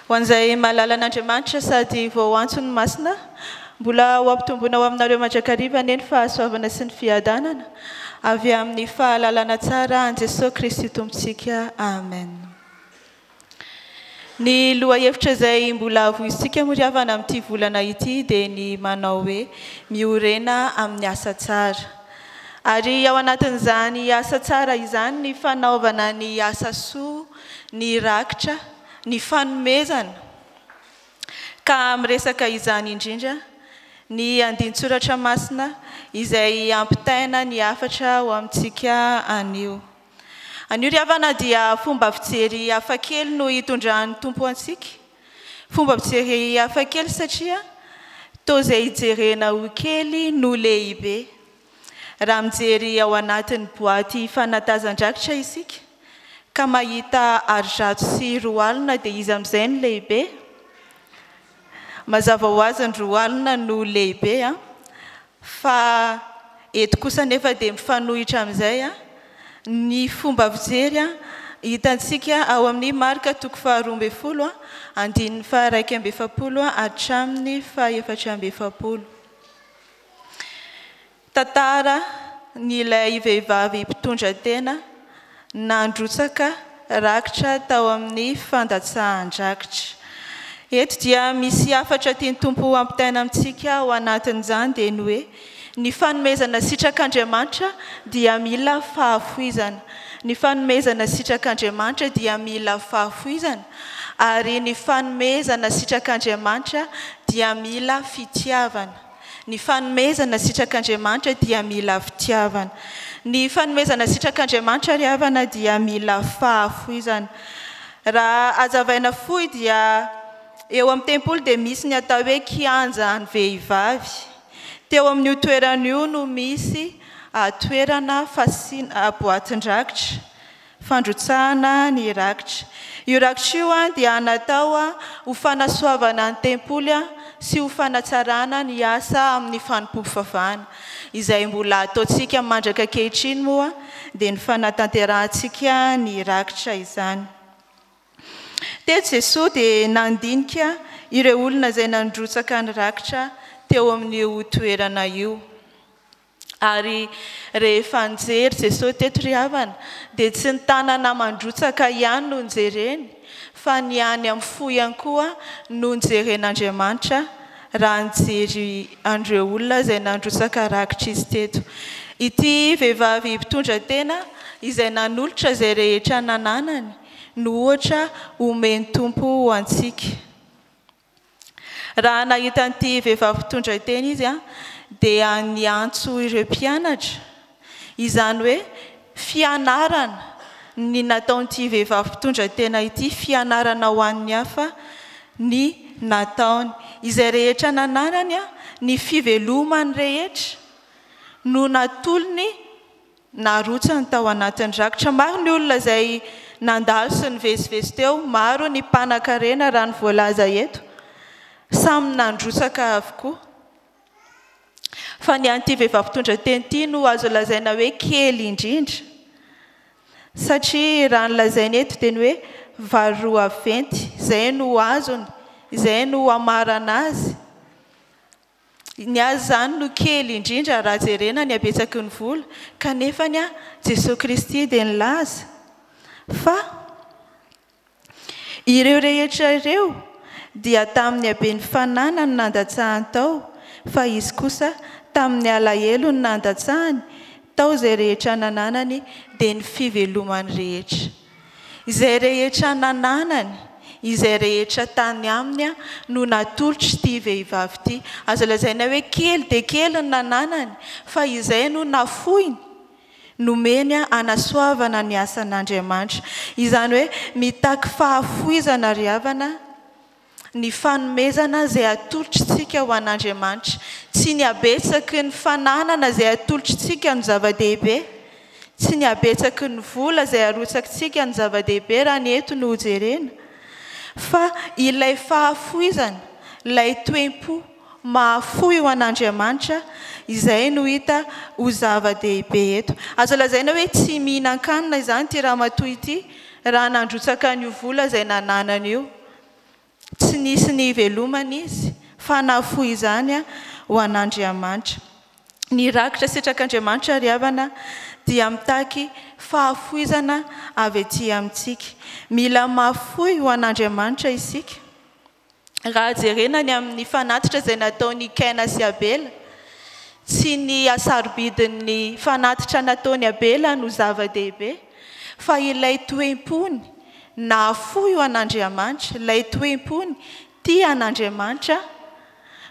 Ho an'izay mahalala an'Andriamanitra sady vao antso ny Masina, mbola ho ampitomboina ho aminareo mandrakariva anie ny fahasoavana sy ny fiadanana avy amin'ny fahalalana tsara an'i Jesoa Kristy Tompontsika. Amen. Ny lohahevitra izay mbola havoizintsika moa ry havana amin'ity volana ity dia ny manao hoe, Miorena amin'ny asa tsara. Ary ao anatin'izany asa tsara izany ny fanaovana ny asa soa, ny rakitra, ny fanomezana. Ka miresaka izany indrindra ny andinin-tsoratra masina izay hampitaina ny hafatra ho amintsika anio. Anio ry havana dia fomba fijery hafa kely no hitondran'ny Tompo antsika. Fomba fijery hafa kely satria toa izay hijerena ho kely no lehibe. Raha mijery ao anatin'ny boaty fanatazan-drakitra isika ka mahita arizato sy roa alina dia iza amin'izay no lehibe? Mazava ho azy ny roa alina no lehibe fa eto kosa anefa dia mifanohitra amin'izay ny fomba fijery hitantsika ao amin'ny marika toko faharoa ambin'ny folo andininy faha-iraika amby efapolo hatramin'ny faha-efatra amby efapolo. Tantara ny ilay vehivavy mpitondra tena nandrotsaka rakitra tao amin'ny fandatsahan-drakitra. Eto dia misy hafatra tian'ny Tompo hampitaina amintsika ao anatin'izany dia ny hoe, ny fanomezana sitrak'Andriamanitra dia mila fahafoizana. Ny fanomezana sitrak'Andriamanitra dia mila fahafoizana, ary ny fanomezana sitrak'Andriamanitra dia mila fitiavana. Ny fanomezana sitrak'Andriamanitra dia mila fitiavana. Ny fanomezana sitrak'Andriamanitra ry havana dia mila fahafoizana. Raha hazavaina fohy dia eo amin'ny tempoly dia misy ny atao hoe kianja an'ny vehivavy. Teo amin'io toerana io no misy toerana fasiana boatin-drakitra. fandrotsahana ny rakitra. Io rakitra io dia natao ho fanasoavana ny tempoly sy ho fanatsarana ny asa amin'ny fanompoam-pivavahana. Izay mbola ataontsika mandraka ankehitriny moa dia ny fanatanterahantsika ny rakitra izany. Teto Jesoa dia nandinika ireo olona izay nandrotsaka ny rakitra teo amin'io toerana io. Ary rehefa nijery Jesosy teto ry havana, dia tsy ny tanana mandrotsaka ihany no nojereny, fa ny any amin'ny fo ihany koa no nojeren'Andriamanitra, raha nijery an'ireo olona izay nandrotsaka rakitr'izy teto. Ity vehivavy mpitondra tena izay nanolotra izay rehetra nananany no ohatra omen'ny Tompo ho antsika. Raha nahita an'ity vehivavy mpitondra teny izy dia niantso ireo mpianatra, izany hoe fianarana ny nataon'ity vehivavy mpitondra tena ity, fianarana ho an'ny hafa ny nataony. Izay rehetra nananany, ny fiveloman'ny rehetra no natolony Narotsany tao anatin'ny rakitra maro ny olona izay nandalo sy nivezivezy teo. Maro ny mpanakarena raha ny voalaza eto. Samy nandrotsaka avokoa. Fa ny an'ity vehivavy mpitondra teny ity no azo lazaina hoe kely indrindra. Satria raha ny lazainy eto dia ny hoe vary roa venty. Izay no azony. Izay no hamarana azy. Ny azy izany no kely indrindra raha jerena ny habetsaky ny vola, kanefa ny ahy Jesoa Kristy dia nilaza fa ireo rehetra ireo dia tamin'ny haben'ny fananany nandatsahany tao fa Izy kosa tamin'ny alahelony nandatsahany tao izay rehetra nananany dia ny fivelomany rehetra. Izay rehetra nananany, izay rehetra tany aminy no natolotr'ity vehivavy ity. Azo lazaina hoe kely dia kely ny nananany, fa izay no nafoiny, nomeny hanasoavana ny asan'Andriamanitra. Izany hoe mitaky fahafoizana ry havana. ny fanomezana izay atolotr'tsika ho an'Andriamanitra, tsy ny habetsaky ny fananana izay atolotr'tsika no zava-dehibe, tsy ny habetsaky ny vola izay arotsak'tsika no zava-dehibe raha ny eto no hojerena, fa ilay fahafoizana, ilay toe-po mahafoy ho an'Andriamanitra, izay no hita ho zava-dehibe eto. Azo lazaina hoe tsy mihinan-kanina izany ity ramatoa ity raha nandrotsaka an'io vola izay nananany io. tsy nisy ny hivelomany izy, fa nahafoy izany ho an'Andriamanitra. Ny rakitra sitrak'Andriamanitra ry havana dia mitaky fahafoizana avy ety amintsika. Mila mahafoy ho an'Andriamanitra isika. Raha jerena ny amin'ny fanatitra izay nataon'i Kaina sy Abela, tsy ny hasarobidin'ny fanatitra nataon'i Abela no zava-dehibe, fa ilay toe-pony nahafoy ho an'Andriamanitra, ilay toe-pony tia an'Andriamanitra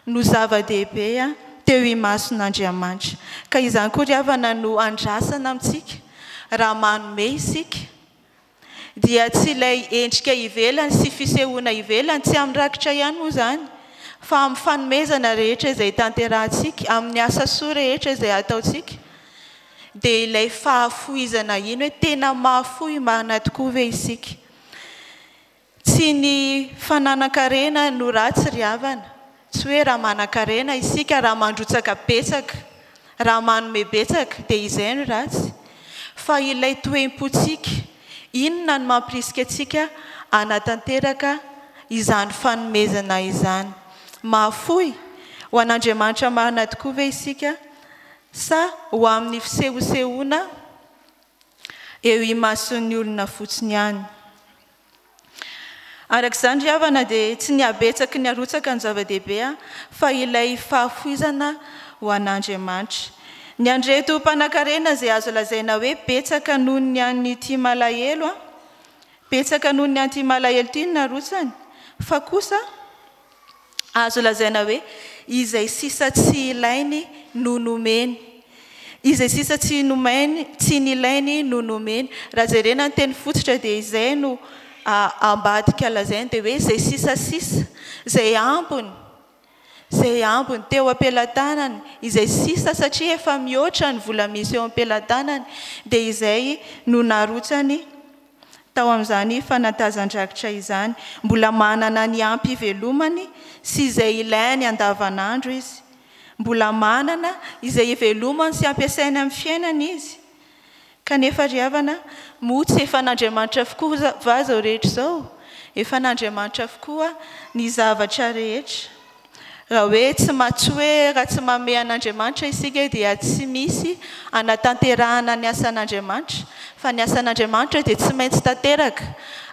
no zava-dehibe teo imason'Andriamanitra. Ka izany koa ry havana no andrasana amintsika raha manome isika, dia tsy ilay endrika ivelany sy fisehoana ivelany, tsy amin'ny rakitra ihany moa izany, fa amin'ny fanomezana rehetra izay tanterahantsika, amin'ny asa soa rehetra izay ataontsika, Dia ilay fahafohizana iny hoe tena mahafoy marina tokoa ve isika? Tsy ny fananan-karena no ratsy ry havana, tsy hoe raha manan-karena isika, raha mandrotsaka betsaka, raha manome betsaka dia izay no ratsy, fa ilay toe-pontsika, inona no mampirisika antsika hanatanteraka izany fanomezana izany? Mahafoy ho an'Andriamanitra marina tokoa ve isika? Sa ho amin'ny fisehosehoana eo imason'ny olona fotsiny ihany? Araka izany ry havana dia tsy ny habetsaky ny harotsaka no zava-dehibe fa ilay fahafoizana ho an'Andriamanitra. Ny an'ireto mpanankarena izay azo lazaina hoe betsaka noho ny an'ity malahelo, betsaka noho ny an'ity malahelo ity ny narotsany, fa kosa. Azo lazaina hoe izay sisa tsy ilainy no nomeny. Izay sisa tsy nomainy, tsy nilainy no nomeny. Raha jerena ny teny fototra dia izay no ambadika lazaina dia hoe izay sisa sisa, izay ambiny, izay ambiny teo am-pelatanany, izay sisa satria efa mihoatra ny vola misy eo am-pelatanany dia izay no narotsany Tao amin'izany fanatazan-drakitra izany, mbola manana ny ampy ivelomany sy izay ilainy andavanandro izy. Mbola manana izay ivelomany sy ampiasainy amin'ny fiainany izy. Kanefa ry havana, moa tsy efa an'Andriamanitra avokoa va izao rehetra izao? Efa an'Andriamanitra avokoa ny zavatra rehetra. Raha hoe tsy matsy hoe raha tsy mamehy an'Andriamanitra isika dia tsy misy hanatanterahana ny asan'Andriamanitra, fa ny asan'Andriamanitra dia tsy maintsy tanteraka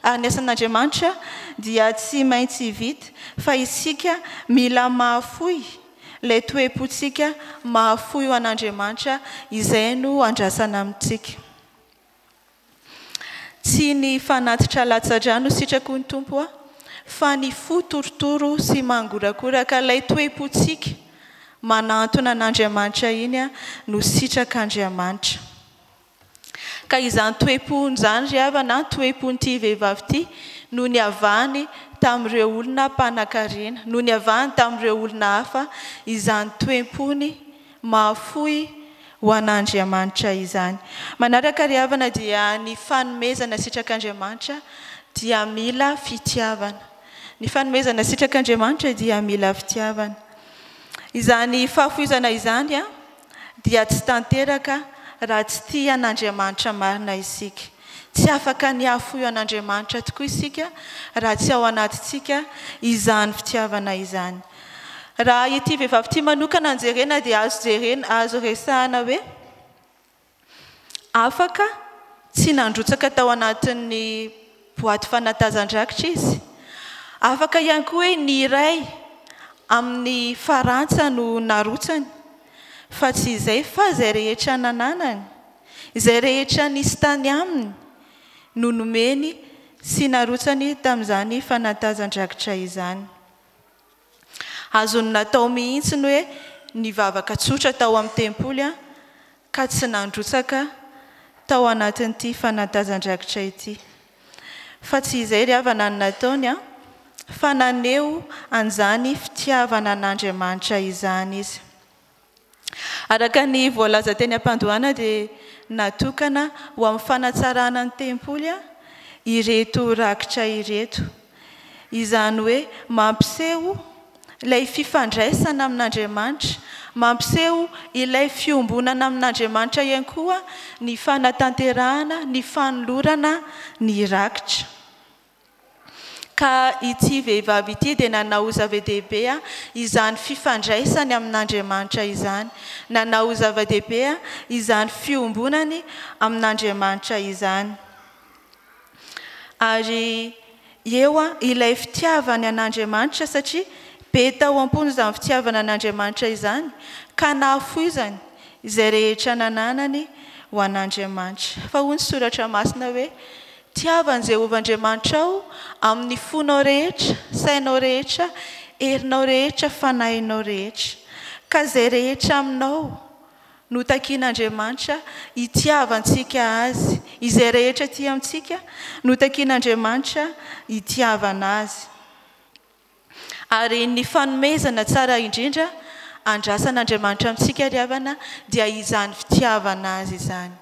ary ny asan'Andriamanitra dia tsy maintsy vita fa isika mila mahafoy ilay toe-pontsika mahafoy ho an'Andriamanitra izay no andrasana amintsika. Tsy ny fanatitra latsa-drà no sitrako ny Tompo a! fa ny fo torotoro sy mangorakoraka, ilay toe-pontsika manahantona an'Andriamanitra iny a! no sitrak'Andriamanitra. Ka izany toe-pony izany ry havana a! toe-pon'ity vehivavy ity no niavahany tamin'ireo olona mpanankarena, no niavahany tamin'ireo olona hafa izany toe-pony, Mahafoy ho an'Andriamanitra izany. Manaraka ry havana dia ny fanomezana sitrak'Andriamanitra dia mila fitiavana. Ny fanomezana sitrak'Andriamanitra dia mila fitiavana. Izany fahafoizana izany dia tsy tanteraka raha tsy tia an'Andriamanitra marina isika. Tsy afaka ny hahafoy an'Andriamanitra tokoa isika raha tsy ao anatintsika izany fitiavana izany. Raha ity vehivavy ity manokana no jerena dia azo jerena, azo resahina hoe afaka tsy nandrotsaka tao anatin'ny boaty fanatazan-drakitra izy. Afaka ihany koa hoe ny iray amin'ny farantsa no narotsany fa tsy izay fa izay rehetra nananany. Izay rehetra nisy tany aminy no nomeny sy narotsany tamin'izany fanatazan-drakitra izany. Azony natao mihitsy ny hoe nivavaka tsotra tao amin'ny tempoly ka tsy nandrotsaka tao anatin'ity fanatazan-drakitra ity. Fa tsy izay ry havana no nataony fa naneho an'izany fitiavana an'Andriamanitra izany izy. Araka ny voalaza teny am-pandohana dia natokana ho amin'ny fanatsarana ny tempoly ireto rakitra ireto. Izany hoe mampiseho ilay fifandraisana amin'Andriamanitra, mampiseho ilay fiombonana amin'Andriamanitra ihany koa ny fanatanterahana ny fanolorana ny rakitra. Ka ity vehivavy ity dia nanao zava-dehibe izany fifandraisany amin'Andriamanitra izany, nanao zava-dehibe izany fiombonany amin'Andriamanitra izany. Ary eo ilay fitiavany an'Andriamanitra, satria be tao am-pony izany fitiavana an'Andriamanitra izany, ka nahafoizany izay rehetra nananany ho an'Andriamanitra. Fa hoy ny Soratra Masina hoe, Tiavo an'i Jehovah Andriamanitrao amin'ny fonao rehetra, sainao rehetra, herinao rehetra, fanahinao rehetra. Ka izay rehetra aminao no takin'Andriamanitra hitiavantsika azy. Izay rehetra aty amintsika no takin'Andriamanitra hitiavana azy. Ary ny fanomezana tsara indrindra andrasan'Andriamanitra amintsika ry havana dia izany fitiavana Azy izany.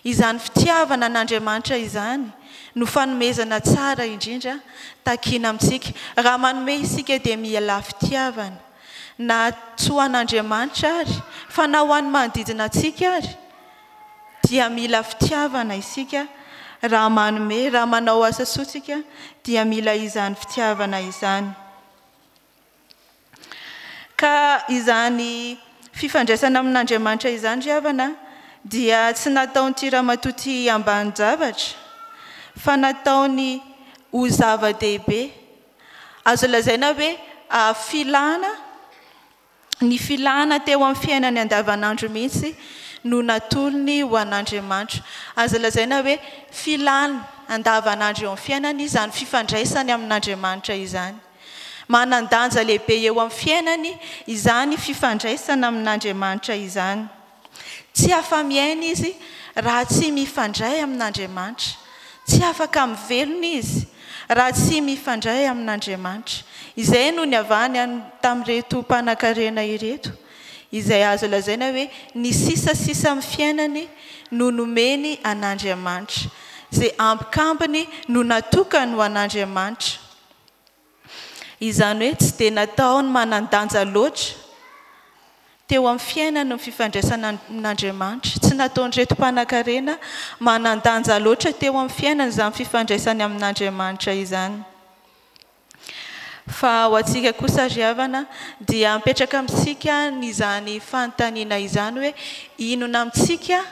Izany fitiavana an'Andriamanitra izany no fanomezana tsara indrindra takina amintsika. Raha manome isika dia mialà fitiavana, na tsy ho an'Andriamanitra ary, fa na ho an'ny manodidina antsika ary, dia mila fitiavana isika raha manome, raha manao asa soa isika dia mila izany fitiavana izany. Ka izany fifandraisana amin'Andriamanitra izany ry havana dia tsy nataon'ity ramatoa ity ambanin-javatra fa nataony ho zava-dehibe. Azo lazaina hoe filana Ny filana teo amin'ny fiainany andavanandro mihitsy no natolony ho an'Andriamanitra. Aza lazaina hoe filany andavanandro eo amin'ny fiainany izany fifandraisany amin'Andriamanitra izany. Manan-danja lehibe eo amin'ny fiainany izany fifandraisana amin'Andriamanitra izany. Tsy afa-miaina izy raha tsy mifandray amin'Andriamanitra. Tsy afaka mivelona izy raha tsy mifandray amin'Andriamanitra. Izay no niavahany tamin'ireto mpanankarena ireto, izay azo lazaina hoe ny sisasisa amin'ny fiainany no nomeny an'Andriamanitra, izay ambikambiny no natokany ho an'Andriamanitra. Izany hoe tsy dia nataony manan-danja loatra teo amin'ny fiainany ny fifandraisana amin'Andriamanitra. Tsy nataon'ireto mpanankarena manan-danja loatra teo amin'ny fiainany izany fifandraisany amin'Andriamanitra izany. Fa ho antsika kosa ry havana dia mipetraka amintsika izany fanontaniana izany hoe, inona amintsika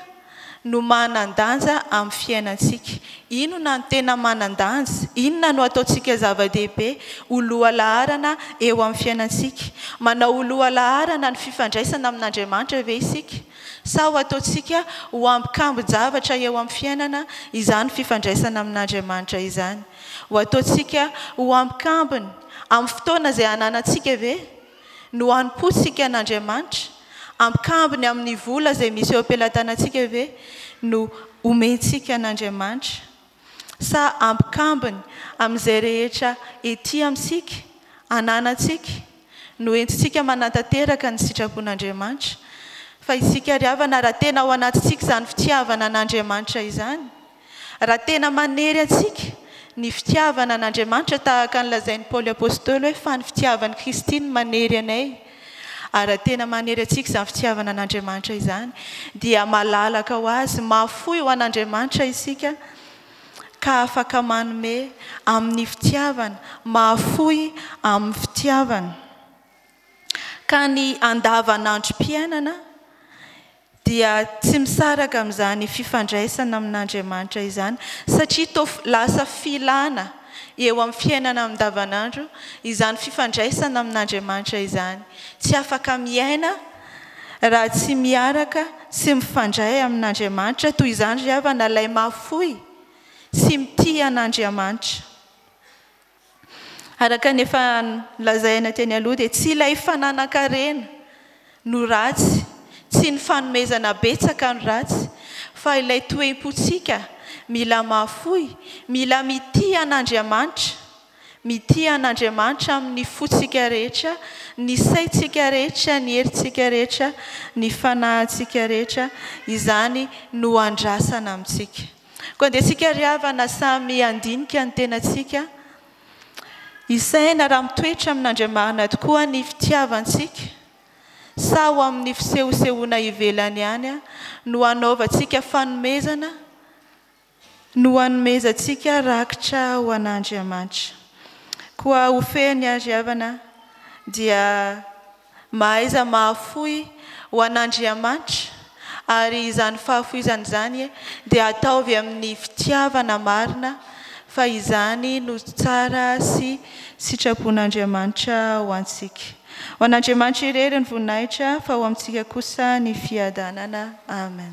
no manan-danja amin'ny fiainantsika. Inona no tena manan-danja? Inona no ataontsika zava-dehibe ho lohalaharana eo amin'ny fiainantsika? Manao ho lohalaharana ny fifandraisana amin'Andriamanitra ve isika? Sa ho ataontsika ho ambikambin-javatra eo amin'ny fiainana izany fifandraisana amin'Andriamanitra izany? Ho ataontsika ho ambikambiny amin'ny fotoana izay ananantsika ve? No hanompo sika an Andriamanitra? Ampikambony amin ny vola izay misy eo am-pelatanantsika ve no omentsika an Andriamanitra? Sa ampikambony amin izay rehetra ety amintsika, ananantsika, no entintsika manantanteraka ny sitrapon Andriamanitra? Fa isika ry havana raha tena ao anatintsika izany fitiavana an Andriamanitra izany, Raha tena manery antsika ny fitiavana an'Andriamanitra tahaka ny lazain'i Paoly Apostoly hoe fa ny fitiavan'i Kristy no manery anay, ary raha tena manery antsika izany fitiavana an'Andriamanitra izany dia malalaka ho Azy, mahafoy ho an'Andriamanitra isika ka afaka manome amin'ny fitiavana, mahafoy amin'ny fitiavana ka ny andavanandrom-piainana. dia tsy misaraka amin'izany fifandraisana amin'Andriamanitra izany, satria toa lasa filana eo amin'ny fiainana andavanandro izany fifandraisana amin'Andriamanitra izany. Tsy afaka miaina raha tsy miaraka sy mifandray amin'Andriamanitra, toy izany ry havana ilay mahafoy tsy mitia an'Andriamanitra. Araka ny efa nolazaina teny aloha dia tsy ilay fananan-karena no ratsy, tsy ny fanomezana betsaka no ratsy fa ilay toem-pontsika mila mahafoy, mila mitia an'Andriamanitra, mitia an'Andriamanitra amin'ny fontsika rehetra, ny saintsika rehetra, ny herintsika rehetra, ny fanahintsika rehetra, izany no andrasana amintsika. Koa dia isika ry havana samy handinika ny tenantsika, hisaina raha mitoetra amin'Andriamarina tokoa ny fitiavantsika sa ho amin'ny fisehosehoana ivelany ihany no hanaovantsika fanomezana no hanomezantsika rakitra ho an'Andriamanitra. Koa ho fehiny ary havana dia Mahaiza mahafoy ho an'Andriamanitra, ary izany fahafoizana izany dia ataovy amin'ny fitiavana marina, fa izany no tsara sy sitrapon'Andriamanitra ho antsika. Ho an'Andriamanitra irery ny voninahitra, fa ho amintsika kosa ny fiadanana. Amen.